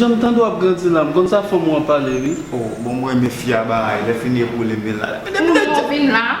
Janm tande wap grandi la m konn sa fanm ou an pale wi. Oh bon m renmen fi a baay lè fini epole menl la. Pou nou vin la.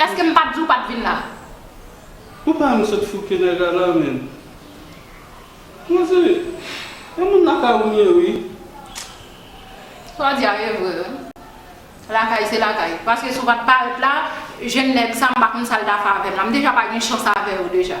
Eske m pat di w pat vin la. Ou pa wèm sot fouke nèg a la menm. Mwen se Yon moun lakay ou m ye wi. Saw di a ye vre wi. Lakay se lakay. Paske si w pat parèt la, jèn nèg sa m pa konn sal ta fè avèm la. M deja pa gen chans avèw deja.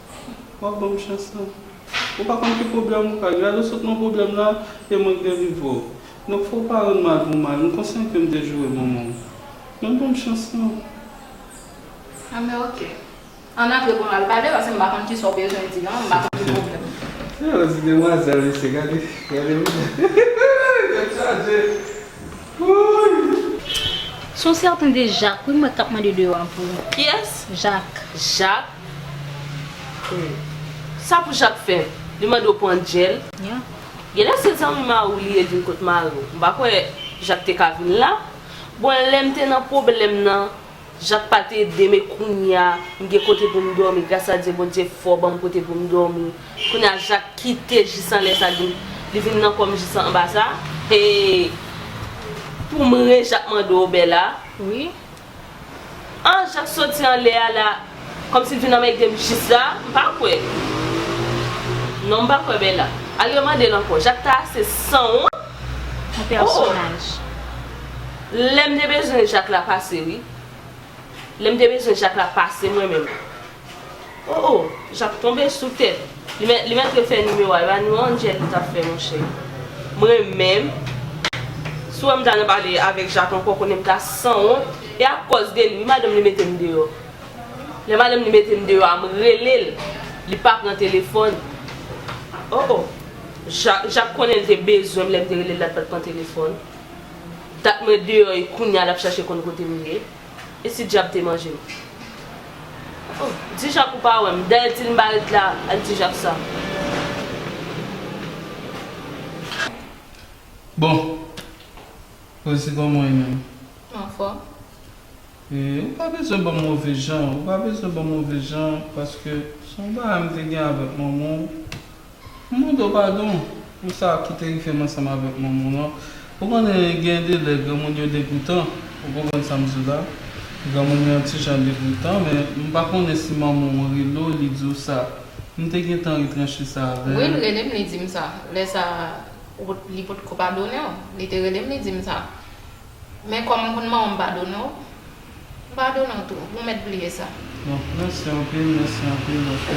Wap banm chans lan. Ou pa konn ki pwoblèm ou ka gen. Lè ou sot nan pwoblèm la, e mwen k delivre w. Donk fò w pa rann mal pou mal. M konsyan ke m te joure manman w. Men banm chans lan. A men ok. Ann antre pou nou al pale paske m pa konn kisa w bezwen di lan. M pa konn ki pwoblèm ou gen. Se yon ti demwazèl mesye gade. Gade vizaj. Tèt chaje. Wouuyy. Son sèten de Jak wi mwen k ap mande de yo a pou ou. Kiyès? Jak. Jak. Sa pou Jacques fè? Li mande w pran djèl? Genlè se zanmi mari w li ye l vin kot mari w. M pa kwè Jacques te ka vin la. Bon lè m te nan pwoblèm nan Jacques pa te ede m e kounya m gen kote pou m dòmi gras a Dye Bondye fò ban m kote pou m dòmi. Kounya Jacques kite jis anlè sa li vin nan kò m jis anba sa? Hee pou m re Jacques mande w Bella? An jan soti anlè a la kòm si vin anmèdem jis la m pa kwè non m pa kwè bella al re mandel ankò jak ta ase sanwont ooh lèm te bezwen jak la pase wi lèm te bezwen jak la pase mwen menm. Oh oh jak tonbe sou tèt li mèt refè nimewo a epa nimewo Angel li tap fè monchè m renmenm si w wèm ta nan pale avèk jak ankò konnen m ta sanwont e akòz de li wi madanm li metem deyò lè madanm li metem deyò a m rele l li pa pran telefòn oh oh jak konnen li te bezwen m lèm te rele l la li pat pran telefòn dat mwen deyò e kounya lap chache konn kote m ye. E si dyab te manje m? Oh, Ti Jak ou pa wè m, dèyè ti lnbarit la ak Ti Jak sa. Bon, koze se kòman w ye menm? M anfòm. E ou pa bezwen ban m move jan, ou pa bezwen ban m move jan paske se yon bagay m te gen avèk manman w. M mande w padon pou sa ki te rive m ansanm avèk manman w lan. Ou konnen, gen de lè granmoun yo degoutan. Ou konprann sa m di w la? Granmoun yo yon ti jan degoutan. Men, m pa konnen si manman w rele w, li di w sa. M te gentan retranche sa avè l. Wi, l rele m, li di m sa. Lè sa a, li potko padonnen w. Li te rele m, li di m sa. Men kòm m konn manman m padone w, m padone w tou. Bon mèt bliye sa. Bon, mèsi anpil, mèsi anpil paske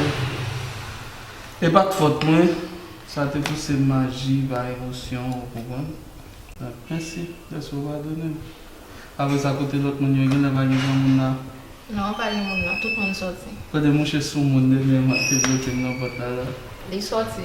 e pa t fòt mwen, sa te pouse m aji pa emosyon, ou konprann. Donk, mèsi dèske w padone m. Apre sa, kote lòt moun yo? Gen lè pa gen granmoun la? Non, pa gen moun nan. Tout moun soti. Kote mouche soumoun dènyèman ki te bloke m nan pòt la la? Li soti.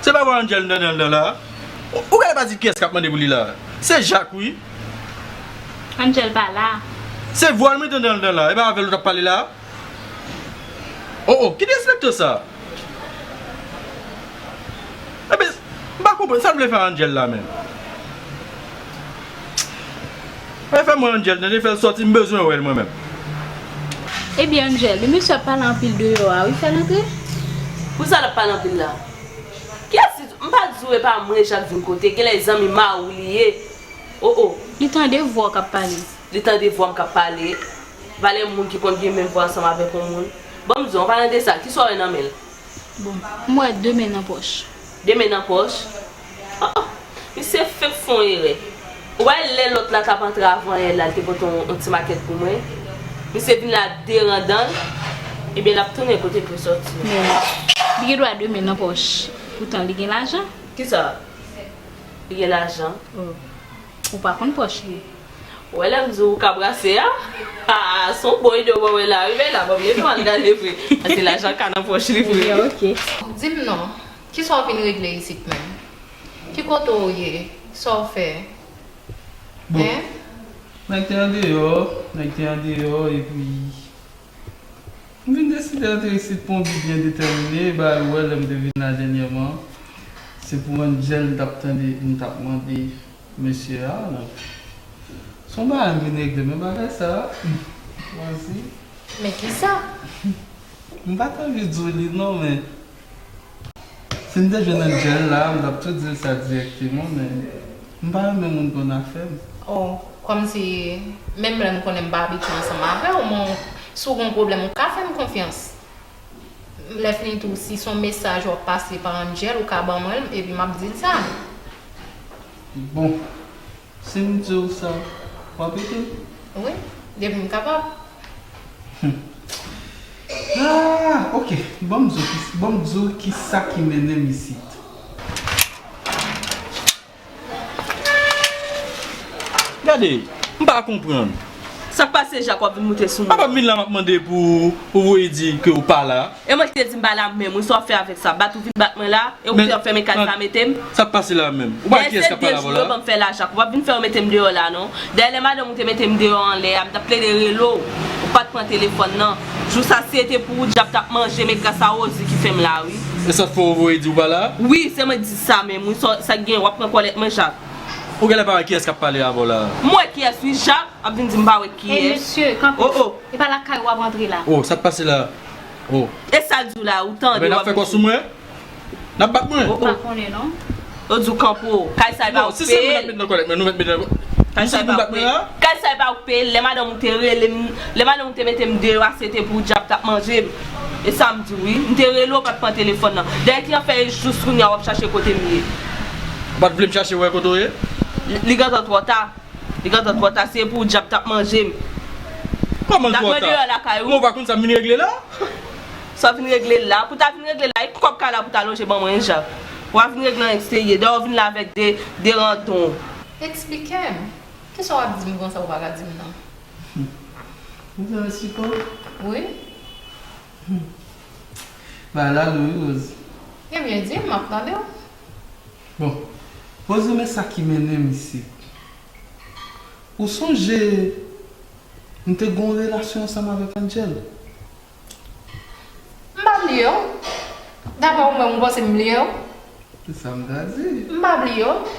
Se pa vwa Angel nan nan la a? Ou gade pa di kiyès kap mande pou li la a? Se Jacques wi. Angel pa la a. Se vwal mwen tande nan la a. E pa avèl ou tap pale la a? Oh oh ki derespekto sa? Ebyen m pa konprann sa l vle fè a Angel la menm? Ptchit! Fèm wè Angel tande fèl sòti m bezwen wèl mwen menm. Ebyen Angel, li mesye ap pale anpil deyò a wi fèl antre. Pousa lap pale anpil la. Kiyès ki di, m pa diw epa mwen chak jou m kote, genlè e zanmi mariw li ye oh oh. Li tande vwa w kap pale. Li tande vwam kap pale. Valè moun ki konn gen menm vwa ansanm avèk yon moun. Banm diw anpalan desa, kisa w wè nan menl? Bon, m wè 2 men nan pòch. 2 men nan pòch? Oh! Misye fenk fè yon erè. Ou pa wè lè lòt la t ap antre avan L la, l te pote yon ti makèt pou mwen? Misye vin la ak 2 randan l. Ebyen l ap tounen kote l te sòti. Men, li gen dwa 2 men nan pòch, poutan li gen lajan. Kisa? Li gen lajan? Oh. Ou pa konn pòch li. Ou wè lèm di ou ka brase a? Haa son bon ide ou wè wè la wi men la banm leve m al gade vre paske lajan ka nan pòch li vre wi. Dim non, kisa ou vin regle isit menm? Ki kote ou ye? Sa ou fè? Bon, nèg te andeyò, nèg te andeyò epi. M vin deside antre isit pou yon bi byen detèmine, e bagay wè lè m te vin la dènyèman, se pou yon djèl m t ap tande m t ap mande mesye a, donk se yon bagay m vin regle men bagay sa a m chwazi. Men kisa? M pa t anvi di w li non men. Si m te jwenn Angel la a m tap tou dil sa direkteman men m pa renmen moun konn afem. Oh kòmsi menm lèm konnen m pa abitye ansanm avèw men w si w gen yon pwoblèm ou ka fèm konfyans lèfini tou si son mesaj wap pase pa Angel ou ka ban mwen l epi map dil sa. Bon. Sim diw sa wap ede'm? Wi, depi m kapab. Humm aah ok banm diw kisa banm diw kisa ki mennenm isit. Gade, m pa konprann. Sak pase Jacques wap vin moute sou mwen. Apa m vin la map mande pou ou voye di ke ou pa la. E mwen ki te di m pa la menm wi sa wap fè avèk sa bat ou vin bat mwen la e ou fè wap fèmen kay sa mete m. Sak pase la menm. Ou pale kiyès kap pale avèw la. Dèyè se 2 jou yo banm fè la Jacques ou pap vin fè yo metem deyò la non dèyè lè madanm ou te metem deyò anlè a m tap plede rele w ou pat pran telefòn nan jou sa si e te pou ou dyab tap manje m e gras a Rosie ki fèm la wi. Esat fè ou voye di ou pa la. Wi se mwen ki t di sa menm wi sak gen wap pran kòlèt mwen Jacques. Ou genlè pa wè kiyès kap pale avèw la. M wè kiyès wi Jap ap vin dim m pa wè kiyès. Ey mesye kanpe oh oh. Epa lakay wap antre la. Oh sak pase la oh. Esal diw la ou tande wap vin dim. Nap fè kò sou mwen? Nap bat mwen? M pa konnen non. Yo diw kanpe oh. Kay sa epa ou ki peye l. Kay sa epa ou ki peye l. Kay sa epa ou ki peye l lè madanm ou te relem lè madanm ou te metem deyò a sete pou Jap tap manjem. E sa m di w wi. M te rele w pa t pran telefòn nan. Dèyè ki afè e jous kounye a w ap chache kote m ye? Ou pa t vle m chache wè kote w ye? Li gentan twò ta. Li gentan twò ta. Se pou w dyab t ap manje m. Kòman l twò ta? Mwen deyò lakay ou. Men w pa konn sa m vin regle la? Sa w vin regle la? Pou w ta vin regle la, e kòb kay la pou w ta lonje ban mwen e Jak? W a vin regle an eksterye. Dèyè w vin la avèk de randon. Eksplike m. Kisa w ap di m konsa ou pa ka di m non? Humm ou bezwen sipo? Wi. Humm bagay la lou wi Rosie. Ebyen di m map tande w. Bon Rosie men sa ki mennen m isit. Ou sonje m te gen yon relasyon ansanm avèk Angel? M pa bliye w. Daprè ou menm ou panse m bliye w? Se sa m ta di. M pa bliye w.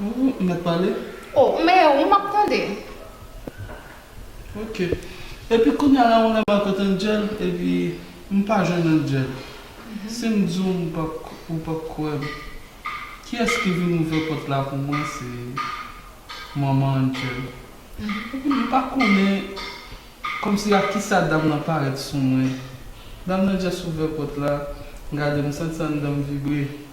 Ooh nèt pale. Oh m meyè wi map tande. Ok epi kounya la ou la mwen kot angel epi m pa jwenn angel sim di w ou pap kwè m kiyès ki vin ouvè pòt la pou mwen se manman angel epi m pa konnen kòmsi ak kisa dam lan parèt sou mwen dam lan just ouvè pòt la m gade m santi andan m vibre.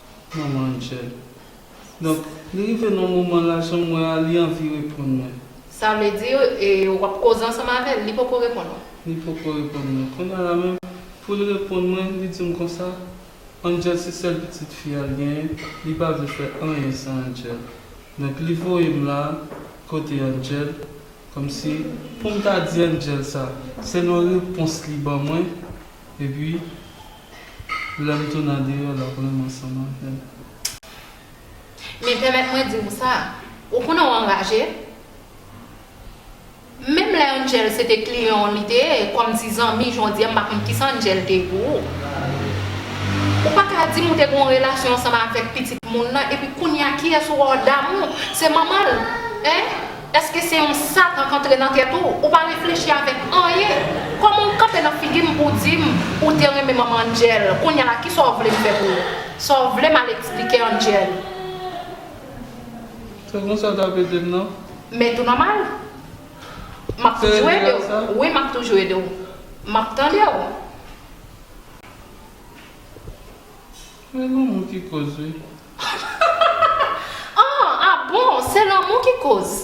Manman Angel. Donk, li rive nan moman lajan mwen a, li anvi reponn mwen. Sa vle di, w ap koze ansanm avè l, li poko reponn ou? Li poko reponn mwen. Kounya la menm, pou l reponn mwen, li di m konsa, Angel se sèl pitit fi a l genyen, li pa vle fè anyen san Angel. Donk, li voye m la, kote Angel, kòmsi, pou m ta di Angel sa. Selon repons li ban mwen, epi. Lèm tou nan deyò lap renmn ansanm avèm. Men pèmèt mwen di ou sa, ou konnen w anraje? Menm lè Angel se te kliyan w li te ye kòm ti zanmi jondye m pa konn kisa Angel te ye pou ou. Ou pa ka di m ou te gen yon relasyon ansanm avèk pitit moun nan epi kounya kiyès ou wè w damou se manman l? Hein? Eske se yon satan k antre nan tèt ou? Ou pa reflechi avèk anyen? Kòman ou kanpe nan figi m pou w di m ou te renmen manman Angel? Kounya la kisa w vle m fè pou ou? Sa w vle m al eksplike Angel? Se konsa w t ap ede m non? Men tou nòmal. M ap toujou ede w. Wi m ap toujou ede w. M ap tande w. Se lanmou ki koz wi. Ahh a bon se lanmou ki koz.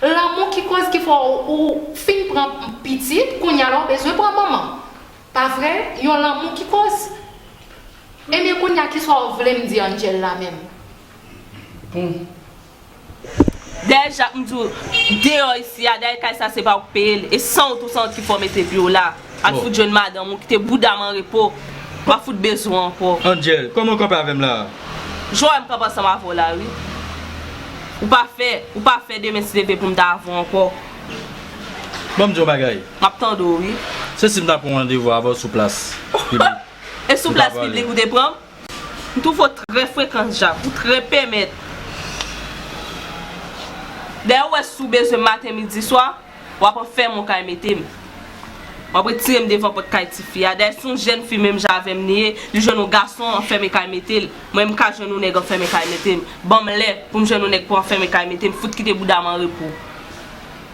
Lanmou ki koz ki fè ou fin pran pitit kounya la ou bezwen pran manman pa vre yon lanmou ki koz ebyen kounya ki sa ou vlem di Angel la menm. Bon. Dèyè jak m di w deyò isi a dèyè kay sa se pa ou k peye l e san w tou san w ki fè w mete pye w la al fout jwenn madanm ou kite bouda m an repo wap fout bezwen w ankò. Angel, kòman w kanpe avè m la a? Jan w wè m kanpe ansanm avè w la wi ou pa fè ou pa fè demen ti leve pou m ta avè w ankò. Bon m di w yon bagay. Map tande w wi. Se si m ta pran yon randevou avè w sou plas piblik. E sou plas piblik ou te pran m? M twouve w trè frekan Jacques, ou trè pèmèt. Dayè ou wè si w bezwen m maten midi swa, w ap anfèman w kay mete m. W ap retire m devan pòt kay tifi a. Dayè si yon jèn fi menm jan avè m li ye, li jwenn yon gason anfèmen kay mete l, mwen m ka jwenn yon nèg anfèmen kay mete m. Ban m lè pou m jwenn yon nèg pou anfèmen kay mete m, fout kite bouda m an repo.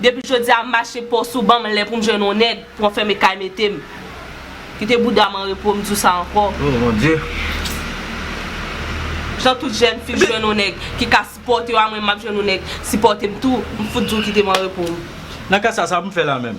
Depi jodi a m mache post ou banm lè poum jwenn yon nèg pou anfème kay metem Kite boudam an repo m di w sa ankò Oh mon Dieu. Jan tout jèn fi jwenn yon nèg ki ka sipòte yo a mwen map jwenn yon nèg sipòtem tou m fout di w kitem an repo m. Nan ka sa sa poum fè la menm.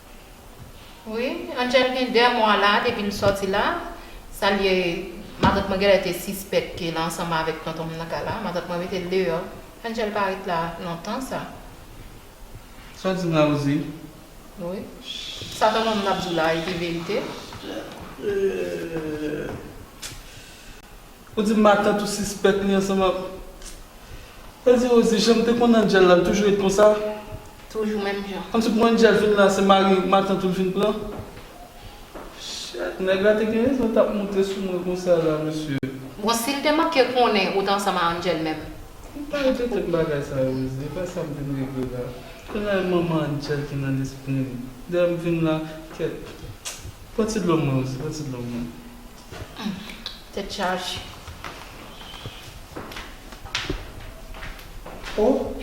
Wi Angel gen 2 mwa la depi l sòti la sa l ye matant mwen genlè te sispèk ke l ansanm avèk tonton m nan kay la matant mwen mete l deyò Angel pa ret la lontan sa. Sa w di m la ou di? Wi sa tonton m nan ap di w la epi verite. Ou di matant ou sispèk li ansanm ak Sa di Rosie janm te konn Angel la li toujou ret konsa? Toujou menm jan. Kòmsi pou Angel vin la se mari matant ou li vin pran? Shit nèg la te gen rezon tap moute sou mwen konsa la mesye. Bon sil te manke konnen ou t ansanm a Angel menm? Ou pa regle tèt bagay sa yo Rosie e pa sam vin regle la. Kounya e manman Angel ki nan lesprim dayè m vin la kèt. Pran ti dlo mwen Rosie pran ti dlo mwen. Humm tèt chaje. Oh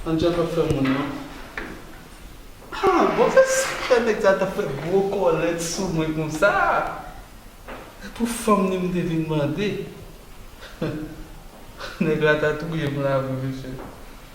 Angel pap fè moun non. Haa bon se sa nèg sa tap fè gwo kòlèt sou mwen konsa. Se pou fanm li m te vin mande. Nèg la ta touyem la vre mesye.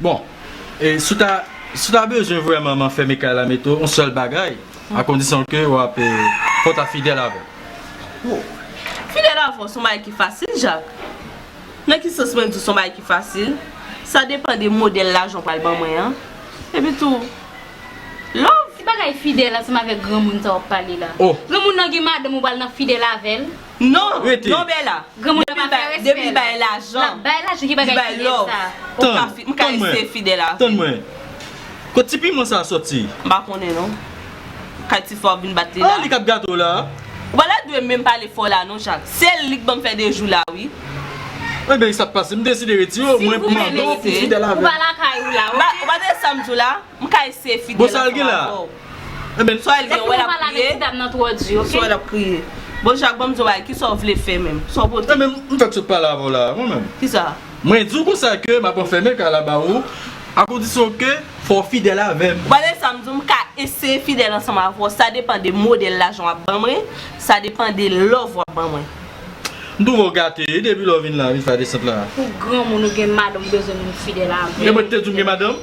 Bon e si w ta si w ta bezwen vrèman m anfème kay la mete w yon sèl bagay a kondisyon ke w ap fò w ta fidèl avè m. Oh fidèl avè w s on bagay ki fasil Jak Nan ki sans mwen di w s on bagay ki fasil sa depan de modèl lajan w pral ban mwen an epi tou love. Ki bagay fidèl ansanm avèk granmoun sa w ap pale la? Oh. Granmoun nan gen madanm ou pral nan fidèl avè l? Non rete non bella depi li bay lajan li bay love ou ka rete fidèl avèl m pa konnen non kay ti fò ap vin bat li la ou pa ta dwe menm pale fò la non jak se li k banm fè 2 jou la wi si ou menm rete ou pa lakay ou la ok. M ka eseye fidèl ansanm avè w. Sa w gen wè l ap kriye? Sa w l ap kriye? Bon Jak banm di yon bagay, kisa w vle fè menm? Sa w pote? Ebyen m fèk sot pale avè w la a mwen menm. Kisa? Mwen di w konsa ke m ap anfème kay la ba ou a kondisyon ke fò w fidèl avè m. Wale sa m di w m ka eseye fidèl ansanm avè w sa depan de modèl lajan w ap ban mwen, sa depan de love w ap ban mwen. M twouve w gate wi depi lè w vin la vin fè desant la. Ou granmoun ou gen madanm ou bezwen moun fidèl avè w. Ebyen mwen te di w m gen madanm?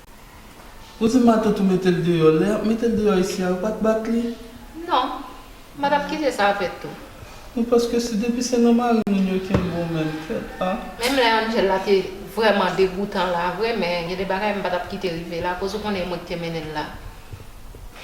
Ou di matant ou metel deyò lè yap metel deyò isi a yo pat bat li? Non. Mwen tap kite sa fèt tou. Wi paske si depi se nan mari moun yo kenbe w menm fèt a. Menm lè Angel la te vrèman degoutan la vre men gen de bagay m patap kite rive la koz ou konnen e mwen ki te mennenl la.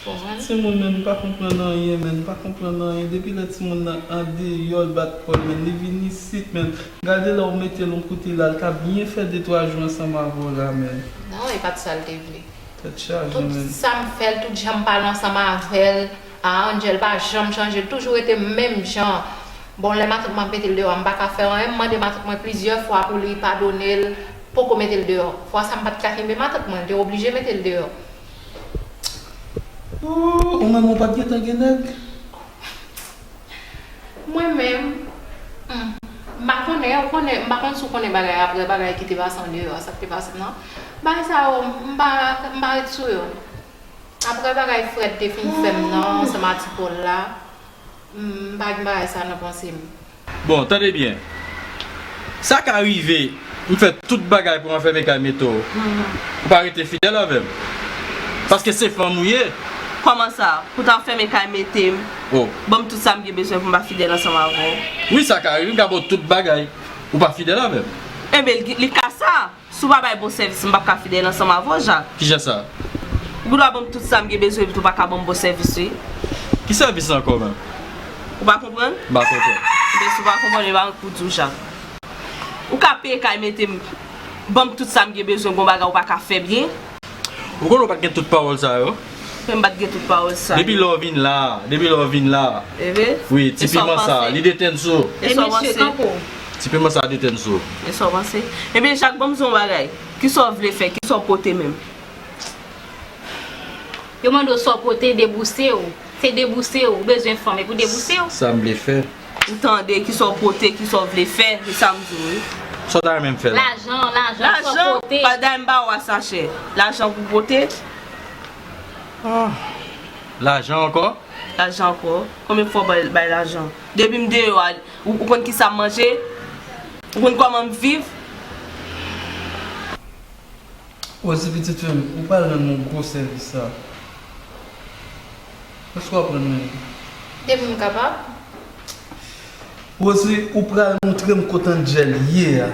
Bon men timoun men li pa konprann anyen men li pa konprann anyen depi lè timoun nan andeyò l bat kòl men li vin isit men gade lè ou metel yon kote la li ka byen fè de twa jou ansanm avè w la men. Non e pat sal te vle. Tèt chaje men. Tout sam fèl tout janm pale ansanm avèl a Angel pa janm chanje li toujou rete menm jan bon lè matant mwen ap metel deyò a m paka fè anyen m mande matant mwen plizyè fwa pou li padonel poko metel deyò fwa sa m pat ka kenbe matant mwen li te oblije metel deyò Ooh ou menm ou pat gentan gen nèg? Mwen menm Humm m pa konnen ou konnen m pa konn si w konnen bagay aprè bagay ki te pase andeyò a sa k te pase nan bagay sa yo m pa m pa ret sou yo aprè bagay Fred te fin fè m nan ansanm a ti Paul la m pa gen bagay sa nan panse m. Bon tande byen Sa ka rive m fè tout bagay pou anfème kay Meto Ou pa rete fidèl avè m Paske se fanm ou ye. Kòman sa? Pou ta anfème kay mete m Ban m tout sa m gen bezwen pou m pa fidèl ansanm avè w? Wi sa ka rive m ka ba w tout bagay Ou pa fidèl avè m. Enben li ka sa? Si w pa bay bon sèvis m pap ka fidèl ansanm avè w Jacques. Kijan sa? Ou gen dwa ban m tout sa m gen bezwen epi tou pa ka ban m bon sèvis wi. Ki sèvis sa ankò menm? Ou pa konprann? M pa konprann. Ebyen si w pa konprann epa m k pou di w Jacques. Ou ka peye kay mete m, ban m tout sa m gen bezwen gon bagay ou pa ka fè byen? Ou konnen w pat gen tout pawòl sa yo? Ke m pat gen tout pawòl sa yo? Depi lè w vin la a, depi lè w vin la a. Ehe. Wi, ti piman sa a, li detenn sou ou. E sa w panse? E mesye, kanpe w. Ti piman sa a detenn sou ou. E sa w panse? Ebyen Jak, ban m di w yon bagay. Ki sa w vle fè? Ki sa w pote menm? Yo mande w sa w pote, debouse w. Se debouse w. Ou bezwen fanm, e pou debouse w. Sa m vle fè? Ou tande kisa w pote kisa w vle fè se sa m di w wi. Sa w ta renmen m fè l. Lajan lajan sa w pote. Lajan padan m ba w a sachè. Lajan pou pote. Lajan ankò. Lajan ankò. Konbyen fwa w bay lajan. Depi m deyò a ou konn kisa m manje. Ou konn kòman m viv. Ozi pitit fi m ou pral rann m yon gwo sèvis sa. Èske w aprann mwen li? Depi m kapab. Rosely, ou pral montre m kot Angel ye a?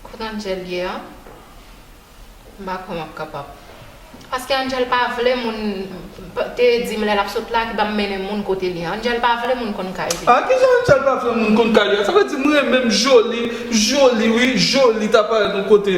Kot Angel ye a? M pa kwè m ap kapab. Paske Angel pa vle moun te di m lè l ap sot la ki pa mennen moun kote li. Angel pa vle moun konn kay li. A! Kijan Angel pa vle moun konn kay li a? Sa vle di m renmen m Joly, Joly wi, Joly ta parèt yon kote.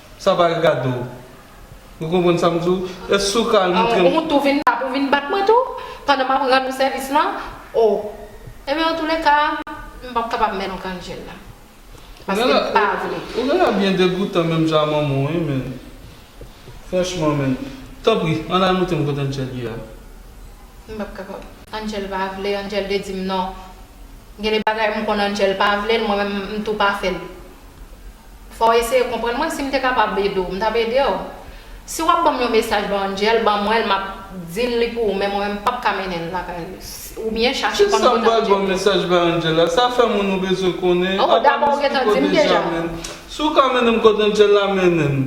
Sa pa gen kado. Ou konprann sa m di w? Èske ou ka al montre m. Ou tou vin la pou w vin bat mwen tou? Pandan m ap rann ou sèvis lan? O! Enben antoulèka, m p ap kapab mennen w kannjel la. Paske m pa vle. Ou gen lè byen degoutan menm jan a manman w wi menn. Franchman menn. Tanpri, ann al montre m kote Angel ye a. M p ap kapab. Angel pa vle, Angel te di m non. Gen de bagay m konn Angel pa vle l, mwen menm m tou pa fè l. Fò w eseye konprann mwen, si m te kapab ede w, m t ap ede w. Si w ap ban m yon mesaj ba Angel, ban mwen l, m ap di l li pou ou, men mwen menm m p ap ka mennen l lakay li. Oubyen chache konn kote Angel ye. Ki sa m pral ban mesaj ba Angel la? Sa fè moun ou bezwen konnen an. O, dakò, ou gen tan di m deja. Si w ka mennen m kote Angel la, mennen m.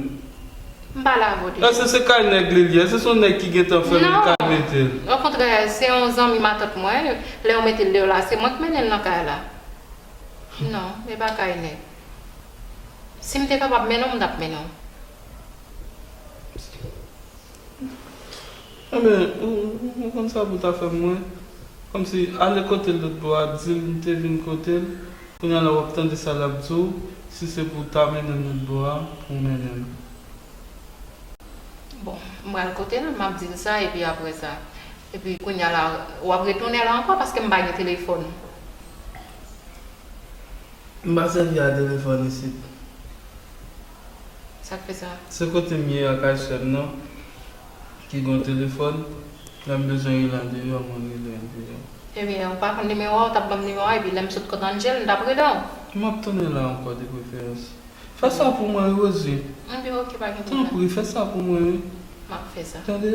M pa lave w deja. Èske se kay nèg li l ye? Èske se yon nèg ki gen tan fèmen l kay mete l? Non, okontrè, se yon zanmi matant mwen, lè yo mete l deyò la, se mwen k mennen l nan kay la. Non, e pa kay nèg. Sim te kapab mennen w m tap mennen w. Enben ou konn sa pou ta fè mwen kòmsi ale kote l lotbò a dil m te vin kote l kounya la wap tande sa lap di w si se pou w ta mennen m lotbò a pou w mennen m. Bon m pral kote l map dil sa epi apresa epi kounya la wap retounen la ankò paske m pa gen telefòn. M pa sèvi a telefòn isit. Sa k fè sa? Se kote m ye a kay sè m nan ki gon telefòn. Lè m bezwen rele andeyò, mwen rele andeyò. Ebyen, ou pa konn nimewo a, ou t ap ban m nimewo a epi lè m sot kot Angel, m t ap rele w. M ap tounen la ankò de preferans. Fè sa pou mwen wi Rosie. Ebyen ok, pa gen pwoblèm. Tanpri, fè sa pou mwen wi. M ap fè sa. Tande.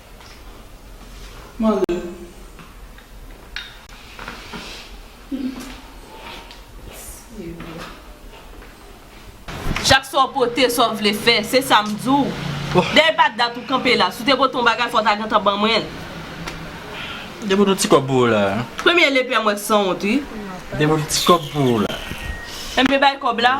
Manje. Chak sa w pote, sa w vle fè, se sa m di w. Dè e pa dat ou kanpe la. Si w te pote yon bagay, fò w ta gentan ban mwen l. Depote yon ti kòb pou ou la a. Premye lepè m wè k sanwont wi. Depote yon ti kòb pou ou la a. Enben bay kòb la.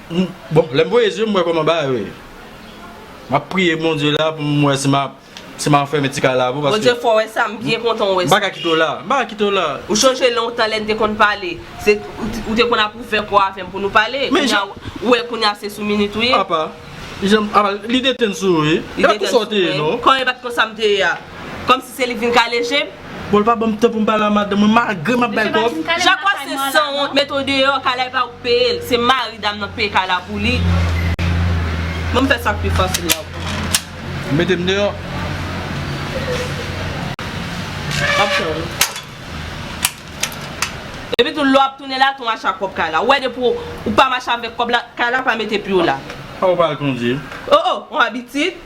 Bon lèm voye zye m wè koman bagay yo ye map priye Bondye la pou m wè si map si map fèmen ti kay la avèw paske Bondye fè w wè sa m byen kontan w wè sa. M paka kite w la, m paka kite w la. Ou chonje lontan lè n te konn pale se ou te konn ap ouvè kòw avèm pou nou pale kounya ou wè kounya se sou minit ou ye. Apa janm apa li detenn sou ou ye e pa tou sa w te ye non. Kòm e pat konsa m te ye a kòmsi se li k vin kale jem. Bon l pa banm tan pou m pale a madanm mwen malgre m ap bay kòb. Jakwa se sanwont met ou deyò kay la epa ou k peye l se mari dam nan k peye kay la pou li banm fè sak pi fasil la pou ou. Mete m deyò. Map fè w ri. Epi tou lè w ap tounen la tou mache ak pwòp kay la ou wè depi ou pa mache avèk kòb la kay la pa mete pye w la. Fòk ou pa al kondi. Oh oh on abitid.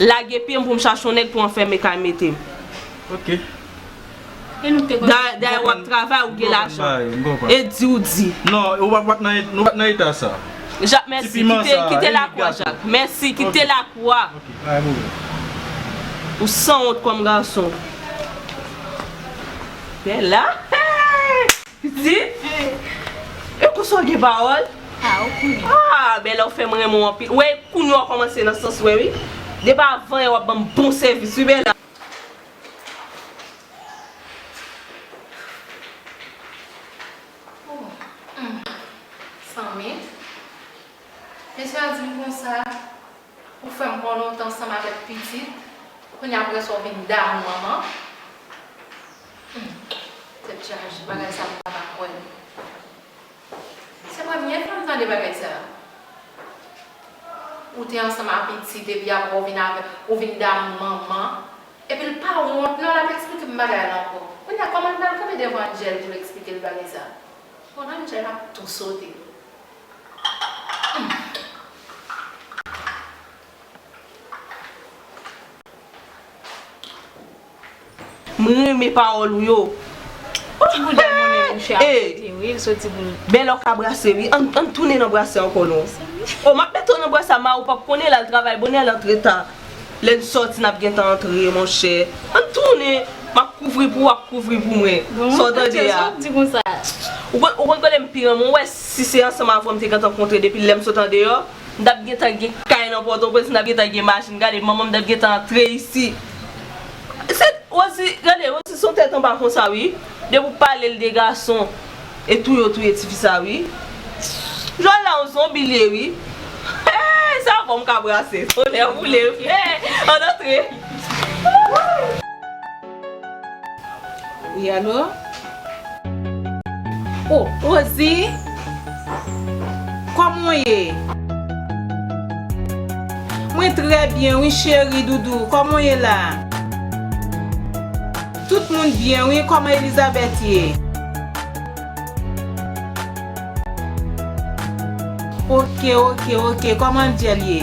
Lage pye m pou m chache yon nèg pou anfème kay mete m. Ok. Dayè w ap travay, ou gen lajan. M konprann sa yo. E di w di. Non, ou pa p nan eta sa. Jak, mèsi. Kite lakwa, Jak. Mèsi. Kite lakwa. Ok, pa gen pwoblèm. Ou sanwont kòm gason. Bella! Hey! Piti, e konsa w gen pawòl? A, ou konnen. A, ben la ou fè m renmen w anpil. Ou wè, kounya w kòmanse nan sans mwen wi. Depi avan yè w ap ban m bon sèvis wi Bella. Ooh, humm, san ment. Mesye a di m konsa, ou fè m pran lontan san m avèk pitit, kounya aprè sa w vin damou manman. Humm tèt chaje bagay sa m paka kwè l se premye fwa m tande bagay sa ou te ansanm a pitit epi aprè ou vin avèk ou vin damou manman epi l pa wont non l ap eksplike m bagay la ankò kounya kòman l pral kanpe devan Angel pou l eksplike l bagay sa bon Angel ap tou sote humm. M renmen pawol ou yo. Ti bouda moun e mouche ap pote wi l soti pou l. Bel ok a brase wi an n tounen nan brase anko non. Oh map mete w nan brase a ma ou pap konnen lal travay bonè al antre ta len soti nap gentan antre monchè an n tounen map kouvri pou ou wap kouvri pou mwen sa w tande a ou konn kote m pi renmen w wè si se ansanm avè w m te gentan kontre depi lè m sot andeyò. M tap gentan gen kay nan pòtoprens m tap gentan gen machin gade manmanm tap gentan antre isi se rosi gade rosi son tèt anba konsa wi depi ou palel de gason e touye ou touye tifi sa wi jòl la yon zonbi li ye wi eehh se avèw m ka brase tonnè boulem eehh ann antre ooh. Wi alo? Oh Rosie! Kòman w ye? Mwen trè byen wi cheri doudou, kòman w ye la? Tout moun byen wi, kòman Elizabeth ye? Ok ok ok, kòman Angel ye?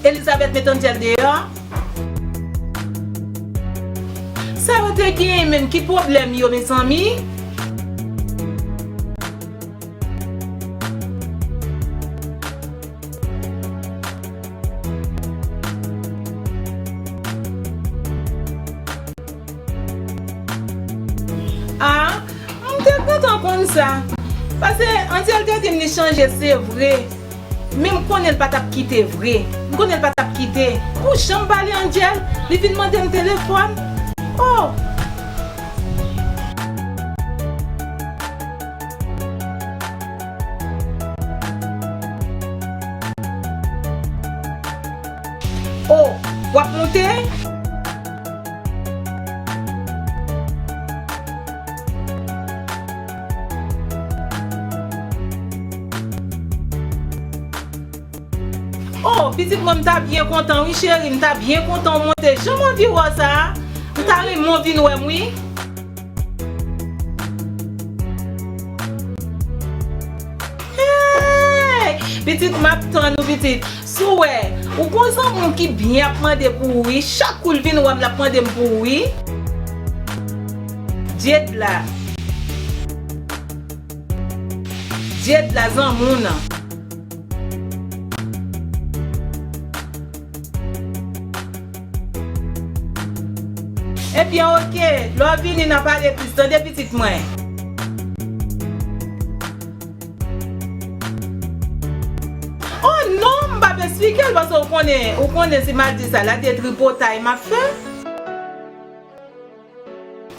Elizabeth met Angel deyò. Sa yo te genyen menm ki pwoblèm yo mezanmi. Ah m te kontan konn sa. Pase Angel te dim li chanje se vre. Men m konnen l pa t ap kite vre. M konnen l pa t ap kite. Pou jan m pale Angel, li vin mande m telefòn. Oh! Oh! W ap moute? Oh pitit mwen m ta byen kontan wi cheri m ta byen kontan w monte janm anvi wè w sa m ta renmen w vin wè m wi. Hey pitit map tann ou pitit sou wè ou gon zanmi w ki byen ap mande pou ou wi chak kou l vin wè m lap mande m pou ou wi. Dyed la Dyed la zanmou nan. Ebyen ok, lè w vini nan pale plis tande pitit mwen. Oh non m pap esplike l paske ou konnen ou konnen si mal di sa la de tripotay map fè.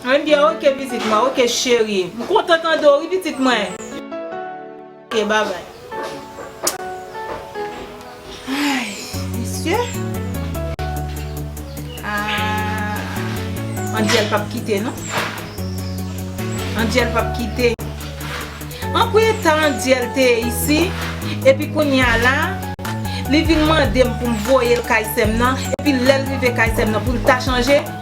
Andy ok pitit mwen ok cheri. M kontan tande w wi pitit mwen. Ok babay. Ayy mesye. Aah Andyel pap kite non. Andyel pap kite. An pou eta Andyel te ye isi epi kounya la li vin mande m pou m voye l kay sè m nan epi lè l rive kay sè m nan pou l ta chanje.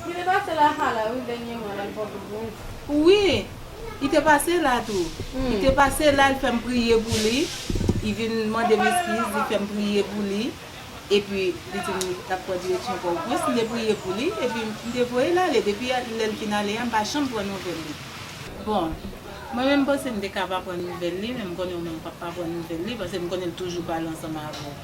Pou li te pase la ha la wi dènyèman lal pran kout gouj. Wi I te pase la tou. Li te pase la li fèm priye pou li I vin mandem eskiz li fèm priye pou li epi li dim li tap pran direksyon pò o prens m te priye pou li epi m te voyel ale depi lèl fin ale a m pa janm pran nouvèl li bon mwen menm m panse m te ka pa pran nouvèl li men m konnen ou menm w pap pa pran nouvèl li paske m konnen l toujou pale ansanm avèw.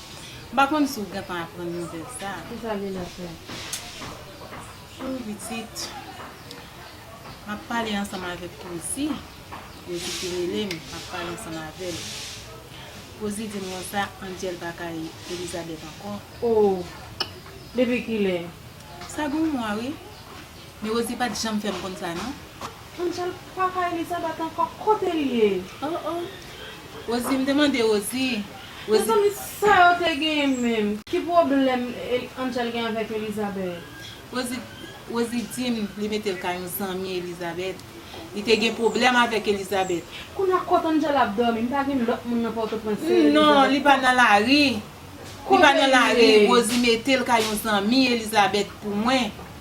M pa konn si w gentan aprann nouvèl sa a. Kisa li la fè? Ooh pitit, m ap pale ansanm avèk Poozi, Poozi ki rele m, m ap pale ansanm avè l. Poozi di m konsa, Angel pa kay Elizabeth ankò. Ooh! Depi kilè? Sa gen yon mwa wi. Men Rosie pa t janm fè m konn sa non. Angel pa kay Elizabeth ankò? Kote l ye? Oh oh! Rosie m te mande Rosie. Mezanmi sa yo te genyen menm. Ki pwoblèm Angel gen avèk Elizabeth. Rosie dim li metel ka yon zanmi Elizabeth. Li te gen pwoblèm avèk Elizabeth. Kounya kot Angel ap dòmi m pa gen lòt moun nan pòtoprens se Elizabeth. Non li pa nan lari. Li pa nan lari Rosie metel ka yon zanmi Elizabeth pou mwen.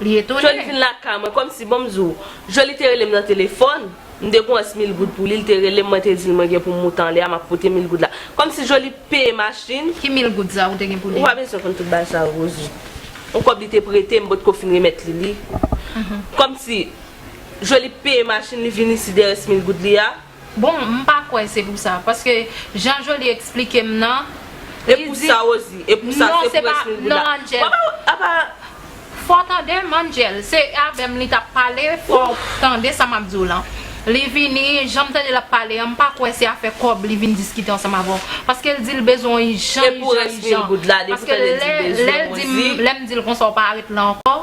Li etone. Joly vin lakay mwen kòmsi bon m di w. Joly te rele m nan telefòn, m te gon ans mil goud pou li, li te rele m mwen te di l mwen gen pou m moute anlè a map pote mil goud la. Kòmsi Joly peye machin. Ki mil goud sa ou te gen pou li? Ou pa bezwen konn tout bagay sa yo Rosie. On kòb li te prete m potko fin remèt li li. Kòmsi Joly peye machin li vin isi dèyè ans mil goud li a. Bon m pa kwè se pou sa paske jan Joly eksplike m nan li di non se pa non Angel fò w tande m Angel se avè m li t ap pale fò w tande sa m ap di w lan li vini jan m tande l ap pale an m pa kwè se afè kòb li vin diskite ansanm avè w paske l di l bezwen w ijan ijan ijan paske lè m di l konsa w pa ret la ankò.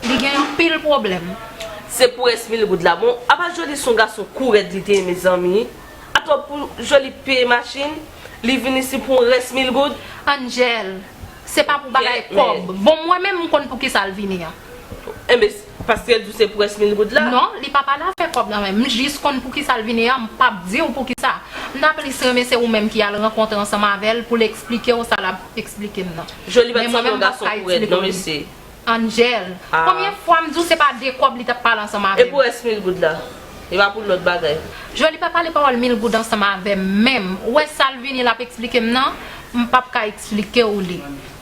Li gen anpil pwoblem. Se pou res mil goud la bon apa joly son gason kou rèd li te ye mezanmi atò pou joly peye machin li vin isi pou yon res mil goud. Angel se pa pou bagay kob. Bon mwen menm m konn poukisal vini an. Enben paskel diw se pou res mil goud la. Non li pa pale afè kob nan menm m jis konn poukisal vini an m pap diw poukisa m ta plis renmen se ou menm ki al rankontre ansanm avèl poul esplikew sa lap esplikem nan. Joly pat sanble yon gason kou rèd non mesye. Angel. Konbyen fwa m di w se pa de kòb li t ap pale ansanm avè m. E pou rès mil goud la? Li pa pou lòt bagay? Joe li pa pale pawòl mil goud ansanm avè m menm. Ou wè sa l vini l ap eksplike m nan, m p ap ka eksplike w li.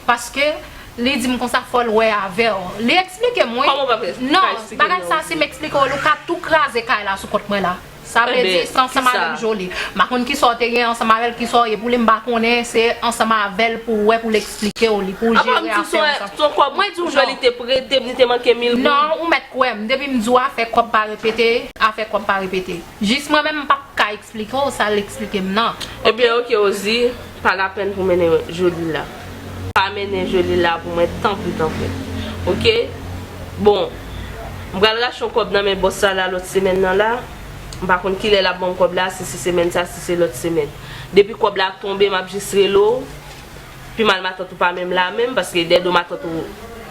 Paske li di m konsa fò l wè avè w. Li eksplike m wi. Kòman w p ap ka eksplike m nan? Non, bagay sa si m eksplike w li w ka tou kraze kay la sou kont mwen la. Sa vle di se ansanm avèm Joly. M pa konn kisa w te gen ansanm avèl kisa w ye pou li m pa konnen se ansanm avèl pou w wè pou l eksplike w li pou w jere afè w sa. Apa m di w se yon kòb mwen di w Joly te prete m li te manke mil goud. Non ou mèt kwè m depi m di w afè kòb pa repete afè kòb pa repete jis mwen menm m pap ka eksplike w sa l eksplike m nan ok. Ebyen ok Rosie. Pa lapèn pou mennen Joly la. Pa mennen Joly la pou mwen tanpri tanpri. Ok. Bon. M pral rache yon kòb nan men bòs sa la lòt semèn nan la. M pa konn kilè l ap ban m kòb la, si se semèn sa, si se lòt semèn. Depi kòb la tonbe m ap jis rele w. Pi mal matant ou pa menm la menm, paske dèdo matant ou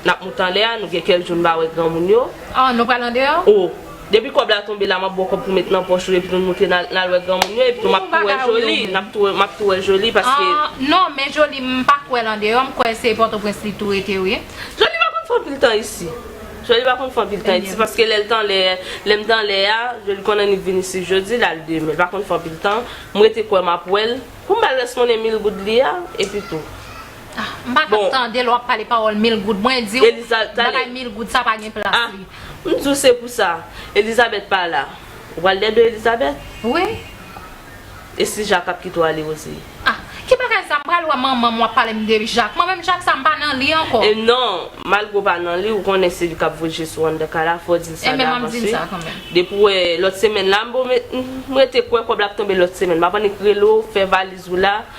n ap moute anlè a, nou gen kèk jou n pa wè granmoun yo. An, nou pral andeyò? O. Depi kob la tonbe la map baw kob pou met nan poch ou epi nou moute nal wè granmoun yo epi tou map tou wè Joly map tou wè Joly paske. Non men Joly m pa k wè l andeyò m kwè se pòtoprens li tou rete wi. Joly pa konn fè anpil tan isi Joly pa konn fè anpil tan isi paske lèl t anlè lèm t anlè a Joly konn annik vin isi jodi lal demen l pa konn fè anpil tan m rete kwè map wèl pou m bal rès monnen mil goud li a epi tou. M pa ka tande lè w ap pale pawòl mil goud. Mwen di w, bagay mil goud sa pa gen plas li. M di w se pou sa. Elizabèt pa la. Ou pral dède Elizabèt? Wi. E si Jak ap kite w ale osi? A! Ki bagay sa? M pral wè manman m w ap pale m de Jak. Mwen menm Jak sa m pa nan li ankò. E non! Malgre w pa nan li, ou konnen se li k ap voye Jesou anndan kay la. Fò w di l sa davans wi. Depi w wè lòt semèn la. M rete kwè kòb la ap tonbe lòt semèn. M ap annik rele w, fè valiz ou la.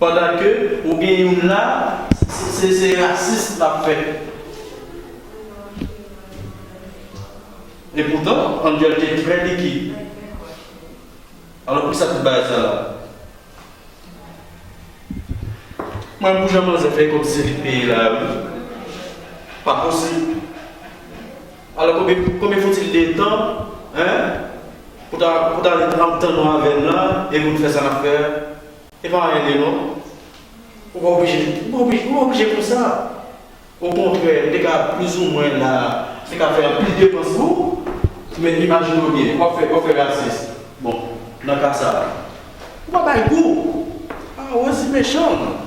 Pandan ke ou gen youn la se se rasis lap fè. E poutan Angel te trè likid. Alò poukisa tout bagay sa la? Mwen pou jan manzè fè kòb se li k peye la wi. Pa posib. Alò konbyen fouti letan hein pou ta pou ta ret ank tann ou avèm la epi pou nou fè sa nap fè a e pa anyen vre non ou pa oblije ou pa oblije ou pa oblije konsa okontrè m te ka plouzoumwen la m te ka fè anpil depans pou ou men imajine w byen wap fè wap fè rasis bon nan ka sa ou pa bay gou ah Rosie mechan.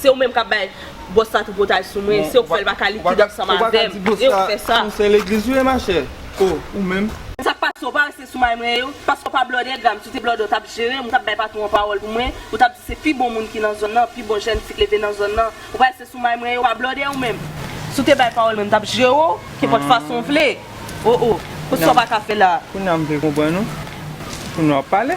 Se ou menm kap bay boss la tripotaj sou mwen, se ou k fèl paka likid ansanm avèm, e ou k fè sa. Ou sen legliz ou ye ma chè? O, ou menm? Sak pase ou pa rete sou may mwen yo, paske ou pa blòdè gram, si ou te blòdè ou tap jerem, ou tap bay patron an pawòl pou mwen, ou tap di se pi bon moun ki nan zòn nan, pi bon jèn fi k leve nan zòn nan, ou pa rete sou may mwen yo, ou pa blòdè ou menm. Si ou te bay pawòl mwen m tap jere ou, kenpòt fason ou vle. O, o, kot sa ou paka fè la. Kounya m vle konprann ou, kounya wap pale.